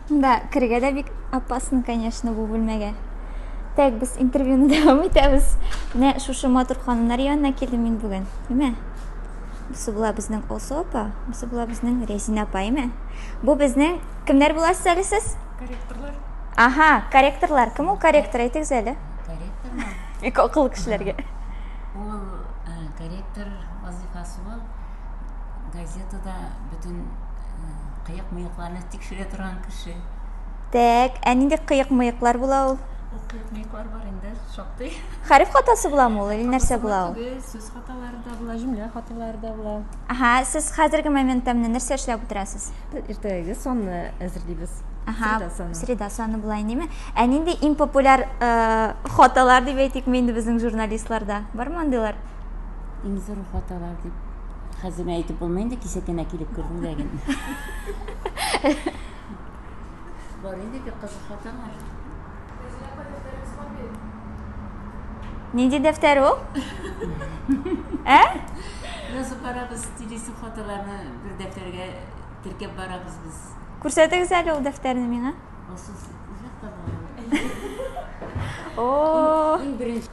Да, керергә дә бик опасно, конечно, бу бүлмәгә. Так, без интервьюны дәвам итәбез. Менә шушы матур ханымнар янына килдем мин бүген. Әмма Бусы була безнең Олсу апа, бусы була безнең Рәзинә апа, әмма. Бу безнең кемнәр буласыз әле сез? Корректорлар. Ага, корректорлар. Кем ул корректор? Әйтегез әле. Корректорлар. Бик акыллы кешеләргә. Ул корректор вазифасы ул газетада бөтен кыек-мыекларны тикшерә торган кеше. Так, ә нинди кыек-мыеклар була ул? Ул кыек-мыеклар бар инде, шактый. Хәреф хатасы буламы ул, или нәрсә була ул? Сүз хаталары да була, җөмлә хаталары да була. Аха, сез хәзерге моментта менә нәрсә эшләп утырасыз? Иртәгәге санны әзерлибез. Аха, среда саны була инеме? Ә нинди иң популяр хаталар дип әйтик инде безнең журналистларда? Бармы андыйлар? Иң зур хаталар дип хәзер әйтеп булмый инде, кичә генә килеп кердем дә генә. Бар инде бик кызык хаталар. Нинди дәфтәр ул? Ә? Язып барабыз, телису хаталарны бер дәфтәргә теркәп барабыз без. Күрсәтегез әле ул дәфтәрне миңа. Ул сүз үзәк табылган. О! Иң беренче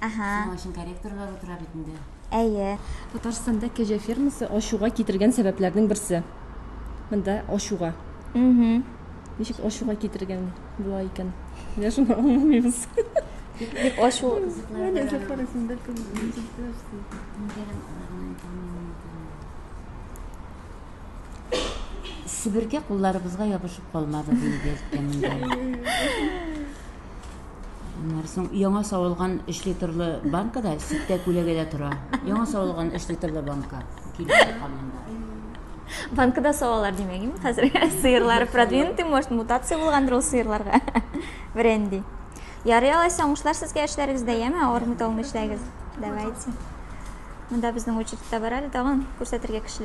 Аһа. Шуның өчен корректорлар утыра бит инде. Әйе. Татарстанда кәҗә фермасы ачуга китергән сәбәпләрнең берсе. Монда ачуга. Угу. Ничек ачуга китергән була икән? Менә шуны аңламыйбыз. Дип ачу. Себерке кулларыбызга ябышып калмады, дип әйткән инде. Аннары соң яңа савылган 3 литрлы банка да ситтә күләгәдә тора. Яңа савылган 3 литрлы банка килеп тоткан монда. Банкада савалар димәгем. Хәзер сыерлар продвинутый, может, мутация булгандыр ул сыерларга. Бренди. Ярый алайса, уңышлар сезгә эшләрегездә, яме, авырмый талмый эшләгез. Давайте. Монда безнең очередьта бар әле тагын күрсәтергә кешеләр.